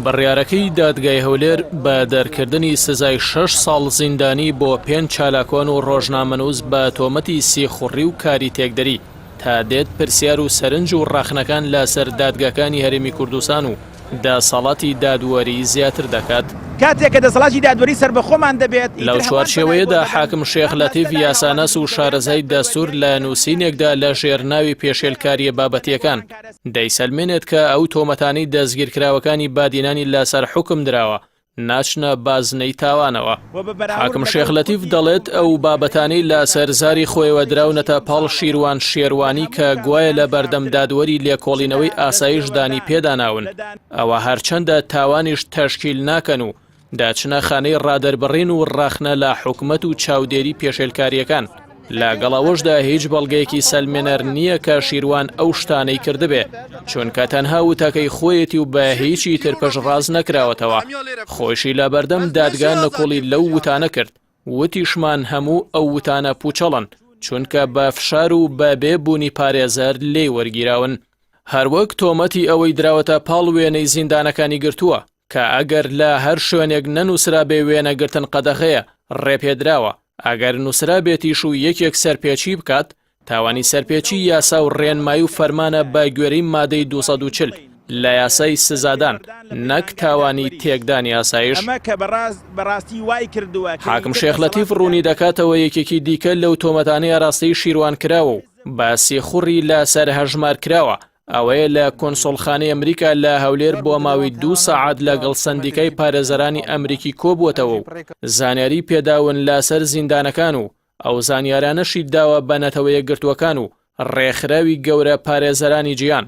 بڕیارەکەی دادگای هەولێر بە دەرکردنی سزای شەش ساڵ زیندانی بۆ پێنج چالاکوان و ڕۆژنامەنووس بە تۆمەتی سیخوڕی و کاری تێکدەری تا دێت پرسیار و سەرنج و ڕەخنەکان لاسەر دادگاکانی هەرێمی کوردستان و دەسەڵاتی دادوەری زیاتر دەکات. کاتێک کە دەسەڵاتی دادوەری سەربەخۆمان دەبێت، لەو چوارچێوەیەدا حاکم شێخ لەتیف یاساناس و شارەزای دەستور لە نووسینێکدا لە ژێر ناوی پێشێلکاریە بابەتیەکان دەیسەلمێنێت کە ئەو تۆمەتانەی دەستگیرکراوەکانی بادینانی لەسەر حوکم دراوە ناچنە بازنەی تاوانەوە. حاکم شێخ لەتیف دەڵێت ئەو بابەتانەی لە سەر زاری خۆیەوە دراونەتە پاڵ شیروان شێروانی کە گوایە لە بەردەم دادوەری لێکۆڵینەوەی ئاسایش دانی پێداناون ئەوە هەرچەندە تاوانیش تەشکیل ناکەن و دەچنە خانەی ڕادەربڕین و ڕەخنە لە حکومەت و چاودێری پێشێلکارییەکان. لە گەڵ ئەوەشدا هیچ بەڵگەیەکی سەلمێنەر نییە کە شیروان ئەو شتانەی کردبێ، چونکە تەنها وتەکەی خۆیەتی و بە هیچی تر پشتڕاست نەکراوەتەوە، خۆیشی لە بەردەم دادگا نکوڵی لەو وتانە کرد، وتیشمان هەموو ئەو وتانە پوچەڵن، چونکە بە فشار و بە بێ بوونی پارێزەر لێی وەرگیراون. هەروەک تۆمەتی ئەوەی دراوەتە پاڵ وێنەی زیندانەکانی گرتووە، کە ئەگەر لە هەر شوێنێک نەنووسرابێ وێنەگرتن قەدەغەیە ڕێپێدراوە ئەگەر نووسرابێتیش و یەکێک سەرپێچی بکات تاوانی سەرپێچی یاسا و ڕێنمایی و فەرمانە بە گوێرەی مادەی 240 لە یاسای سزادان نەک تاوانی تێکدانی ئاسایش حاکم شێخ لەتیف ڕوونی دەکاتەوە یەکێکی دیکە لەو تۆمەتانەی ئاراستەی شیروان کراوە و بە سیخوڕی لەسەر هەژمار کراوە ئەوەیە لە کۆنسۆڵخانەی ئەمریکا لە هەولێر بۆ ماوەی دوو سەعات لەگەڵ سندیکای پارێزەرانی ئەمریکی کۆبووەتەوە و زانیاری پێداون لاسەر زیندانەکان و ئەو زانیارانەشی داوە بە نەتەوەیە گرتووەکان و ڕێکخراوی گەورە پارێزەرانی جیان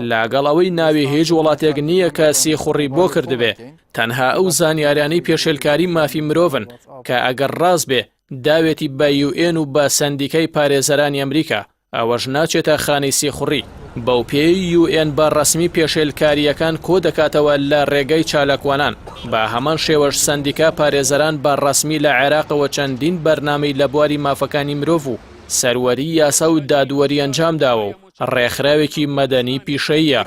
لاگەڵ ئەوەی ناوی هیچ وڵاتێک نییە کە سیخوڕی بۆ کردبێ تەنها ئەو زانیارانی پێشێلکاری مافی مرۆڤن کە ئەگەر ڕاست بێ داوێتی بە یوئێن و بە سندیکای پارێزەرانی ئەمریکا ئەوەش ناچێتە خانەی سیخوڕی. بەوپێیەی یو ئێن بە ڕەسمی پێشێلکارییەکان کۆدەکاتەوە لە ڕێگەی چالاکوانان، بە هەمان شێوەش سەندیکا پارێزەران بە ڕەسمی لە عێراقەوە چەندین بەرنامەی لە بواری مافەکانی مرۆڤ و سەروەری یاسا و دادوەری ئەنجامداوە و ڕێکخراوێکی مەدەنی پیشەییە.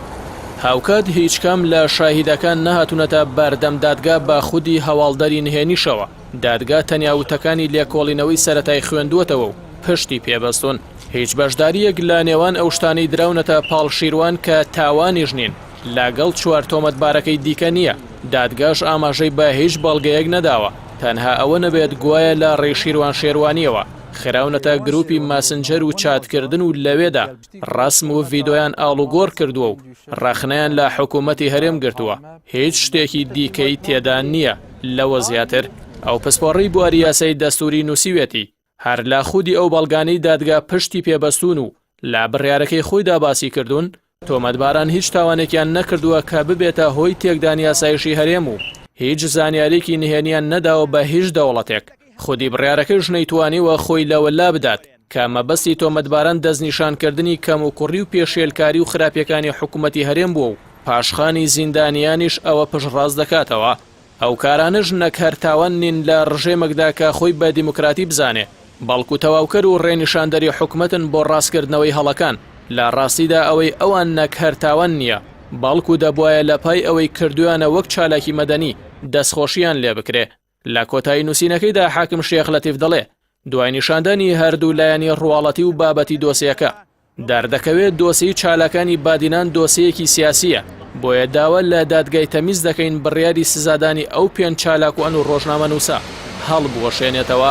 هاوکات هیچکام لە شاهیدەکان نەهاتوونەتە بەردەم دادگا بە خودی هەواڵدەری نهێنیشەوە. دادگا تەنیا وتەکانی لێکۆڵینەوەی سەرەتای خوێندووەتەوە و پشتی پێ بەستوون. هیچ بەشدارییەک لە نێوان ئەو شتانەی دراونەتە پاڵ شیروان کە تاوانیش نین، لەگەڵ چوار تۆمەتبارەکەی دیکە نییە. دادگاش ئاماژەی بە هیچ بەڵگەیەک نەداوە، تەنها ئەوە نەبێت گوایە لە ڕێی شیروان شێروانییەوە خراونەتە گرووپی ماسنجەر و چاتکردن و لەوێدا ڕەسم و ڤیدۆیان ئاڵوگۆڕ کردووە و ڕەخنەیان لە حکوومەتی هەرێم گرتووە. هیچ شتێکی دیکەی تێدا نییە لەوە زیاتر ئەو پسپۆڕی بواری یاسای دەستوری نووسیوێتی هەر لە خودی ئەو بەڵگانەی دادگا پشتی پێبەستون و لە بڕارەکەی خۆیدا باسی کردوون تۆمەتباران هیچ تاوانێکیان نەکردووە کە ببێتە هۆی تێکدانی یاسایشی هەرێم و هیچ زانیارێکی نهێنیان نەداوە بە هیچ دەوڵەتێک خودی بڕارەکەش نەیتوانیوە خۆی لەوە لابدات کە مەبەستی تۆمەتباران دەستنیشانکردنی کەموکوڕی و پێشێلکاری و خراپیەکانی حکومەتی هەرێم بووە و پاشخانی زیندانیانیش ئەوە پشتڕاست دەکاتەوە. ئەو کارانەش نەک هەر تاوان نین لە ڕژێمەکدا کە خۆی بە دیموکراتی بزانێ، بەڵکو تەواوکەر و ڕێنیشاندەری حکومەتن بۆ ڕاستکردنەوەی هەڵەکان، لە ڕاستیدا ئەوەی ئەوان نەک هەر تاوان نیە، بەڵکو دەبوایە لە پای ئەوەی کردویانە وەک چالاکی مەدەنی دەستخۆشییان لێبکرێ. لە کۆتایی نووسینەکەیدا حاکم شێخ لەتیف دەڵێ دوای نیشاندانی هەردوو لایەنی ڕواڵەتی و بابەتی دۆسیەکە دەردەکەوێت دۆسی چالاکانی بادینان دۆسەیەکی سیاسیە بۆیە داوا لە دادگای تەمیز دەکەین بڕیاری سزادانی ئەو پێنج چالاک و ئەن و ڕۆژنامە نووسە هەڵبوەشێنێتەوە.